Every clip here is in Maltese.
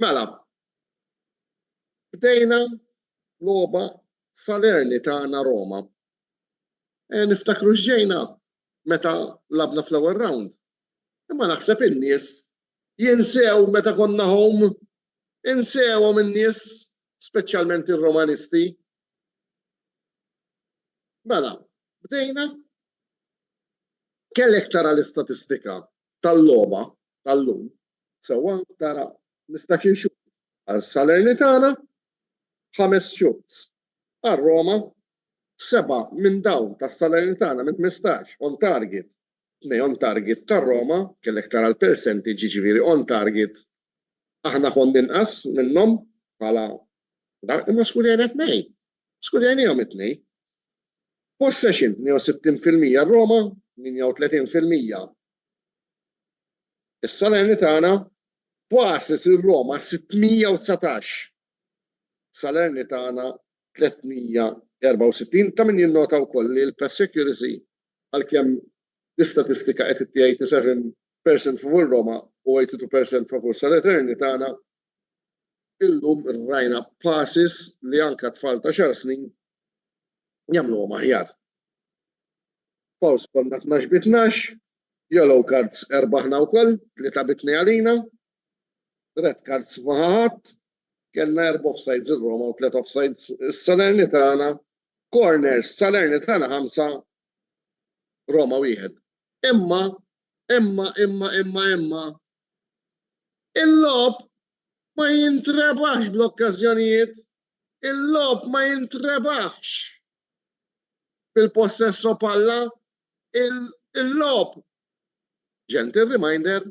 Mela, bdejna logħba Salerni ta' Ana Roma. Niftakru x'ġejna meta lagħbna fl-ewwel round. Imma naħseb in-nies jinsew meta konna home. Insewhom in-nies, speċjalment ir-Romanisti. Mela, bdejna. Kellek tara l-istatistika tal-logħba tal-lum sewwa tara mistax inxuh għal Salernitana, ħames xuts għal Roma, seba' minn dawn tas-Salernitana minn ħmistax on target, tnej on target tar-Roma, kellek tara l-percentage jiġifieri on target aħna konna inqas minnhom bħala dak imma skurjajna tnejn. Skurjajnihom it-tnejn. Possession 62% r-Roma, 38% Is-Salernitana faset ir-Roma 619, Salernitana 364. Ta' min jinnota wkoll li l-pass accuracy għalkemm l-istatistika qed itti 87 percent favur Roma u 82 percent favur Salernitana, illum rajna passes li anke tfal ta' xahar snin jagħmluhom aħjar. Fouls konna tnax bi tnax, yellow cards erbgħa aħna wkoll, tlieta bi tnejn għalina, red cards ma ħa ħadd, kellna erba' offsides ir-Roma u tliet offsides is-Salernitana, corners Salernitana ħamsa Roma wieħed. Imma, imma, imma, imma, imma, il-lob ma jintrebax bl-okkażjonijiet Il-logħob ma jintrebaħx bil-possesso palla, il-logħob Gentle reminder,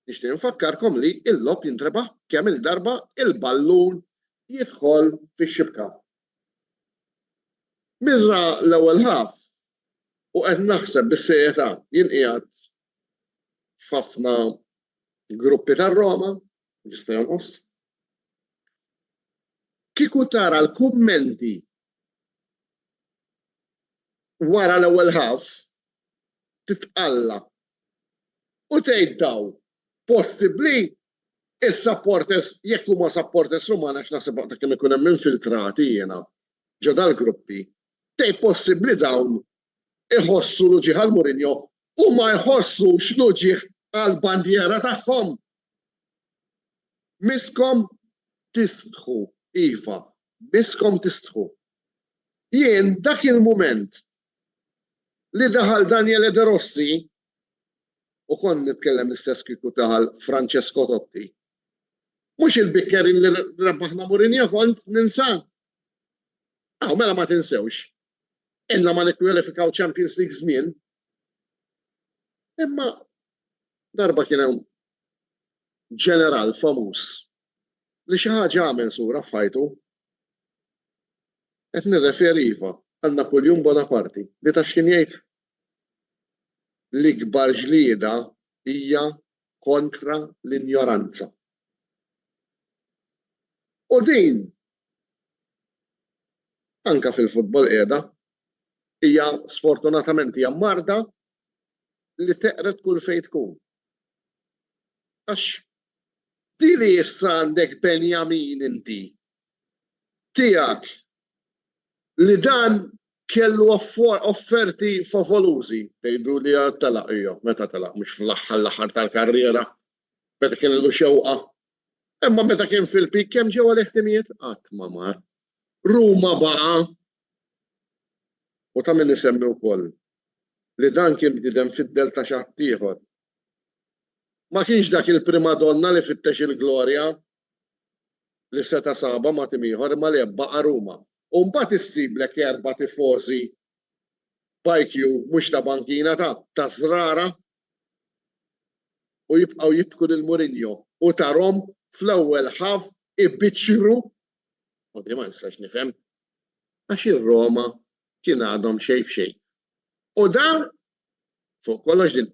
nixtieq infakkarkom li l-logħob jintrebaħ kemm-il darba l-ballun jidħol fix-xibka. Mirra l-ewwel half u qed naħseb bis-serjetà, jien qiegħed f'ħafna gruppi tar-Roma, Jista' jonqos? Kieku tara l-kummenti wara l-ewwel ħaf, titqalla' u tgħid dawn, possibbli s-supporters, jekk huma supporters Ruman għax naħseb waqt kemm ikun hemm infiltrati jiena ġo dal-gruppi, tgħid possibbli dawn iħossu l-uġigħ għal Mourinho u ma jħossux l-uġigħ għall-bandiera tagħhom Misskom tistħu, iva, misskom tistħu. Jien dak il-mument li daħal Daniele De Rossi, u kont nitkellem l-istess kieku daħal Francesco Totti, mhux il-bickerin li rebbaħna Mourinho kont ninsa? Aw, mela ma tinsewx. Ilna ma nikkwalifikaw Champions League żmien. Imma Darba kien hemm ġeneral famuż li xi ħaġa għamel sura f'ħajtu. Qed nirreferi iva għal Napuljun Bonaparti li taf x'kien jgħid? L-ikbar ġlieda hija kontra l-injoranza. U din anke fil-futbol qiegħda hija sfortunatament hija marda li teqred kull fejn tkun. Għax di li issa għandek Benjamin inti tiegħek li dan kellu offerti favolużi, tgħidu li għad telaq, ejja, meta telaq, mhux fl-aħħar l-aħħar tal-karriera, meta kien illu xewqa. Imma meta kien fil-peak kemm ġew għalih timijiet? Qatt ma mar. Ruma baqa' U ta' min isemmi wkoll li dan kien bniedem fid-dell ta' xi ħaddieħor. Ma kienx dak il-primadonna li fittex il-glorja li seta' sabha ma' tim ieħor imma li baqa' Ruma. U mbagħad issiblek erba' tifożi b'IQ mhux ta' bankina ta' ta' żrara u jibqgħu jibku lil Mourinho u tarhom fl-ewwel half ibiċċru U din ma nistax nifhem. Għax ir-Roma kien għadhom xejn f'xejn. U dan fuq kollox din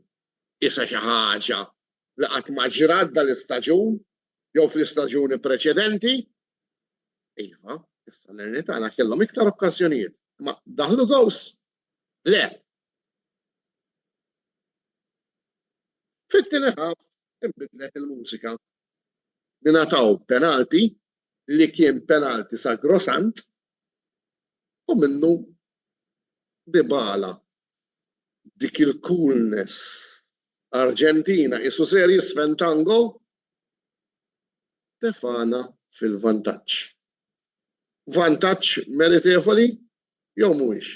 qisha xi ħaġa li qatt ma ġrat dal-istaġun jew fl-istaġuni preċedenti. Iva, is-Salernitana kellhom iktar okkażjonijiet, imma daħlu gows. Le. Fit-tieni ħaf inbidlet il-mużika ngħataw penalty li kien penalty sagrosant u minnu Dybala dik il-coolness Arġentina qisu serji Sven Tango tefagħna fil-vantaġġ. Vantaġġ meritevoli jew mhuwiex?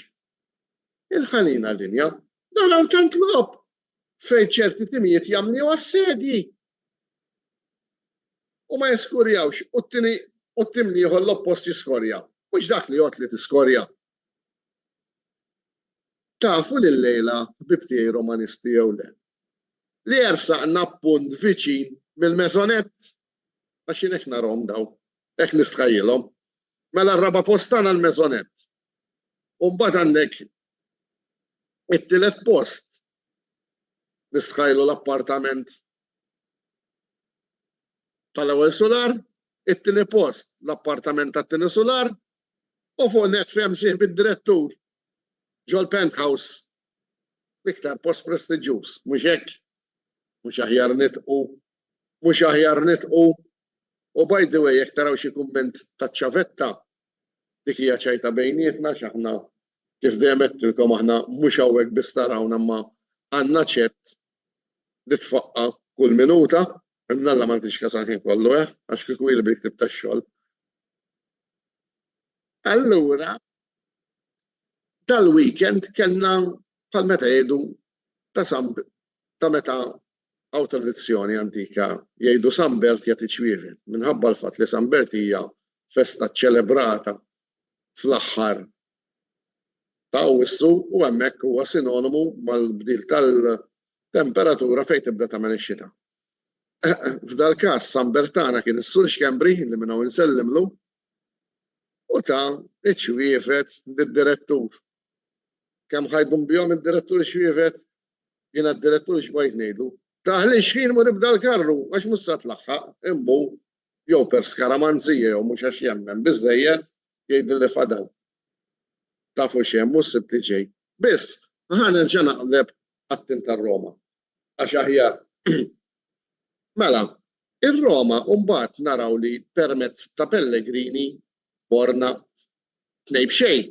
Ilħalina linja, naraw tant logħob fejn ċerti timijiet jagħmluha s-sedji u ma jiskorjawx u t-tieni u t-tim l-ieħor l-oppost jiskorja. Mhux dak li jgħodd li tiskorja. Tafu li llejla, ħbieb tiegħi Romanisti jew le, li jersaqna punt viċin mill-mezzonett? Għax jien hekk narahom dawn, hekk nistħajjilhom. Mela r-raba' post tagħna l-mezzonett. U mbagħad għandek it-tielet post Nistħajlu l-appartament tal-ewwel sular, it-tieni post l-appartament tat-tieni sular, u fuq net fehem sieħ bid-direttur ġol-penthouse. L-iktar post prestiġjuż, mhux hekk? Mhux aħjar nitqu? Mhux aħjar nitqu? U by the way, jekk taraw xi kumment taċ-ċavetta, dik hija ċajta bejnietna għax aħna Kif dejjem għedtilkom aħna mhux hawnhekk biss tarawna imma għandna ċett li tfaqqa' kull minuta. Imma Alla ma nagħtix kas għall-ħin kollu, eh, għax kieku hi li bil-ktieb tax-xogħol. Allura dal-weekend kellna bħal meta jgħidu ta' San ta' meta Hawn tradizzjoni antika, jgħidu San Bert jagħti ċwievet, minħabba l-fatt li San Bert hija festa ċċelebrata fl-aħħar ta' Awwissu u hemmhekk huwa sinonimu mal-bdil tal-temperatura fejn tibda tagħmel ix-xita. F'dal-każ San Bert tagħna kien is-Sur Xkembri li minn hawn insellimlu u ta ċ-ċwievet lid-Direttur. Kemm ħa jdum bihom id-Direttur ix-xwievet? Jien għad-direttur xbajt ngħidlu, Taħli x-xħin mur ibda l-karru għax mhux sa tlaħħaq, immu, jew per skaramanzija jew mhux għax jemmen biżżejjed, jgħidilli fadal. Tafu x'hemm mhux sibt li ġej. Biss, ħa nerġa' naqleb għat-tim tar-Roma għax aħjar. Mela, ir-Roma mbagħad naraw li permezz ta' Pellegrini morna Tnejn b'xejn.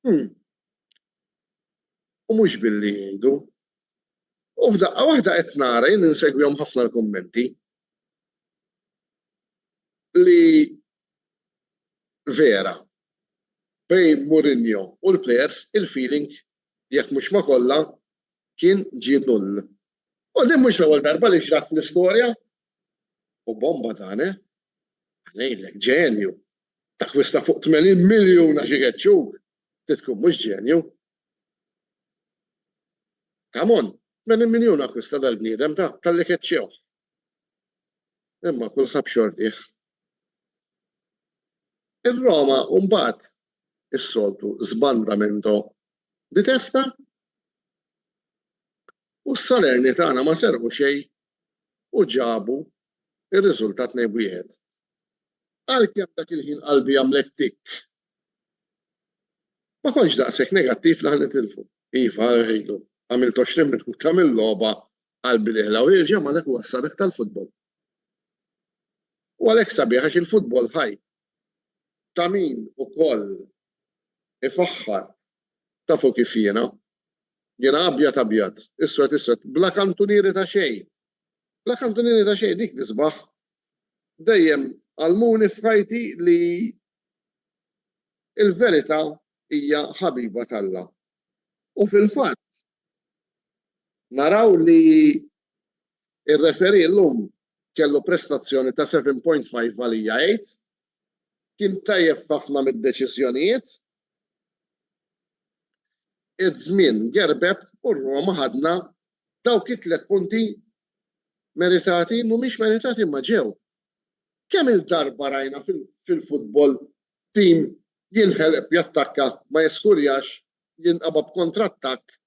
Hm. U mhux billi jgħidu. U f'daqqa waħda qed nara, jien insegwihom ħafna l-kummenti, li vera bejn Mourinho u l-plejers il-feeling jekk mhux ma' kollha kien ġie null. U din mhux l-ewwel darba li ġrat fl-istorja. U bomba dan, eh? Ngħidlek, ġenju. T'akkwist ta' fuq 80 miljun għax igeġġuk? Trid tkun mhux ġenju. Come on, 80 miljun akkwista dal-bniedem ta' talli keċċewh. Imma kull ħabb xortih. Ir-Roma mbagħad is-soltu sbandamento di testa u s-Salerni tagħna ma serqu xejn u ġabu irriżulta tnejn b'wieħed. Għalkemm dak il-ħin qalbi għamlet tikk. Ma kontx daqshekk negattiv li ħa nitilfu. Iva, rħilu, għamilt 20 minut ta' mill-logħba qalbi li ħla u jerġa' malek wassalek tal-futbol. U għalhekk sabiħ għax il-futbol ħaj ta' min ukoll ifaħħar ta' fuq kif jiena. Jiena abjad abjad, iswed iswed, bla kantunieri ta' xejn, La kantunini ta' xejn dik l-isbaħ dejjem għallmuni f'ħajti li l-verità hija ħabiba t'Alla. U fil-fatt naraw li r-referee llum kellu prestazzjoni ta' 7.5 għalija 8. Kien tajjeb f'ħafna mid-deċiżjonijiet. Iż-żmien gerbeb u r-Roma ħadna Dawk it-tliet punti meritati, mhumiex meritati imma ġew. Kemm-il darba rajna fil-futbol tim jinħeleb jattakka, ma jiskurjax, jinqaba' b'kontrattakk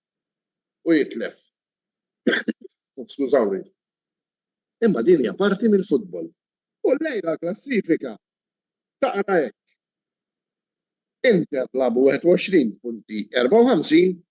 u jitlef. Skużawni. Imma din hija parti mill-futbol. U llejla l-klassifika taqra hekk, Inter labu 21 punti 54,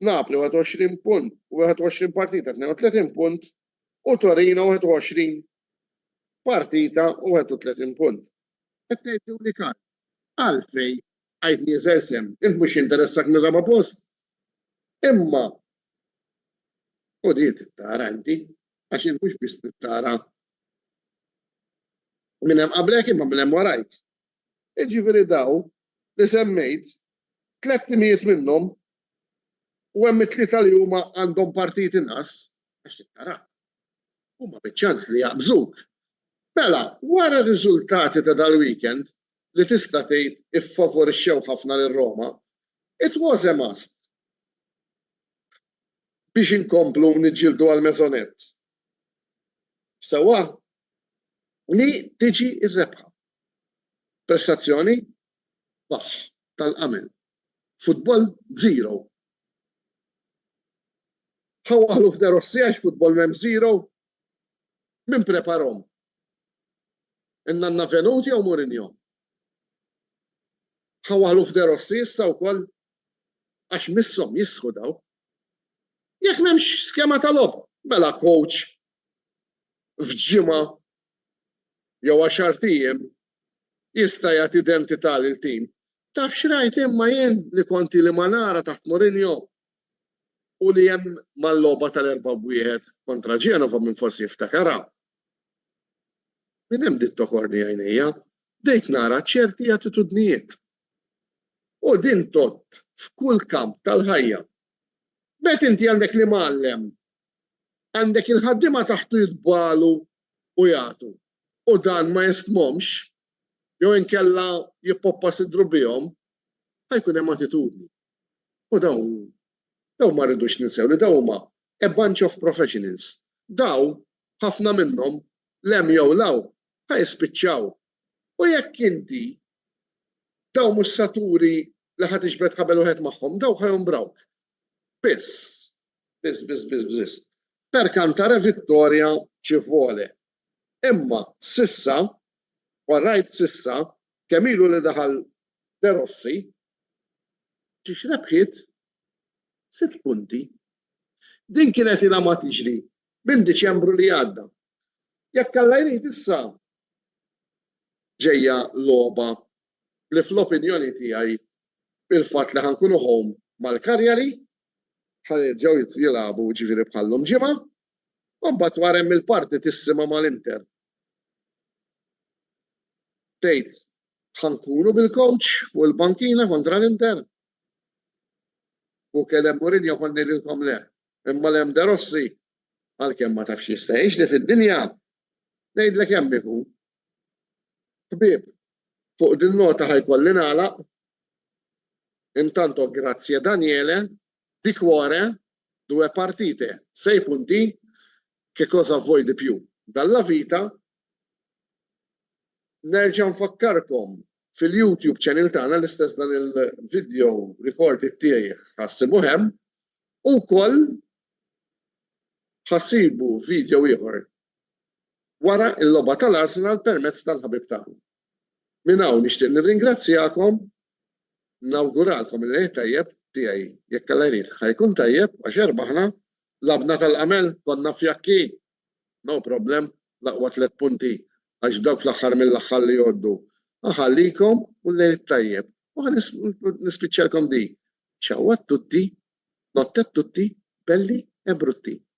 Napli 21 punt u 21 partita 32 punt u Torino 21 partita u 31 punt. Qed tgħidlu li kal. Għalfej għid nieżel sehem? Int mhux jinteressak mir-raba' post? Imma u di trid tara inti għax int mhux biss trid tara minn hemm qablek imma minn hemm warajk. jiġifieri dawn li semmejt, tlett timijiet minnhom, u hemm it-tlieta li huma għandhom partit inqas, għax trid tara, huma biċ-ċans li jaqbżuk. Mela, wara r-riżultati ta' dal-weekend li tista' tgħid iffavorixxew ħafna lil Roma, it was a must biex inkomplu niġġieldu għall-mezzonett. Sewwa li tiġi r-rebħa. Prestazzjoni baħħ tal-Qamel. Futbol zero. Ħa waħlu f'De Rossi għax futbol m'hemm zero? Min preparhom? In-nanna Venuti jew Mourinho? Ħa waħlu f'De Rossi issa wkoll għax misshom jistħu daw. Jekk m'hemmx skema ta' logħob, mela coach f'ġimgħa jew għaxart ijiem jista' jagħti identità lil tim. Taf x'rajt imma jien li kont ili ma nara taħt Mourinho u li hemm mal-logħba tal-erba' b'wieħed kontra Genova min forsi jiftakarha. Minn hemm bdiet tokorni għajnejja, bdejt nara ċerti attitudnijiet. U din tgħodd f'kull kamp tal-ħajja. Meta inti għandek l-Imgħallem Għandek il-ħaddiema taħtu jitbagħlu u jagħtu, u dan ma jistmhomx, jew inkella jippoppa sidru bihom, ħa jkun hemm attitudni. U dawn, dawn ma rridux ninsew li dawn huma a bunch of professionals. Dawn, ħafna minnhom, 'l hemm jew 'l hawn, ħa jispiċċaw. U jekk inti dawn mhux sa turi li ħa tiġbed ħabel wieħed magħhom, dawn ħa jombrawk. Biss, Biss, biss, biss, biss. Per cantare vittoria ci vuole. Imma sissa, warrajt sissa, kemm ilu li daħal De Rossi, ġiex rebħiet sitt punti. Din kienet ilha ma tiġri minn Diċembru li għadda. Jekk alla jrid issa ġejja logħba li fl-opinjoni tiegħi il-fatt li ħankunu home mal-Karjali ħa jerġgħu jilagħbu jiġifieri bħal-lum Ġimgħa, u mbagħad wara hemm il-partitissima mal-Inter. Tgħid ħa nkunu bil-coach fuq il-bankina kontra l-Inter? U kellem Mourinho kont ngħidilkom le, imma l-hemm De Rossi għalkemm ma tafx jista' jgħix li fid-dinja ngħidlek hemm ikun. Ħbieb, fuq din nota ħajkolli nagħlaq Intanto grazie Daniele, di cuore, due partite, sei punti, che cosa vuoi di più dalla vita Nerġa' nfakkarkom fil-YouTube channel tagħna l-istess dan il-video recorded tiegħi ħassibu hemm u wkoll ħassibu video ieħor wara l-logħba tal-Arsenal permezz tal-ħabib tagħna. Minn hawn nixtieq nirringrazzjakom, nawguralkom il-Għid Tajjeb tiegħi, jekk Alla jrid ħa jkun tajjeb għax erbaħna, lagħbna tal-għamel, konna fjakki, no problem, l-aqwa tliet punti għax dawk fl-aħħar mill-aħħar li jgħoddu. Ħa ħallikom u l-Lejl it-Tajjeb u ħa nispiċċalkom b'din, Ciao a tutti, notte a tutti, belli e brutti.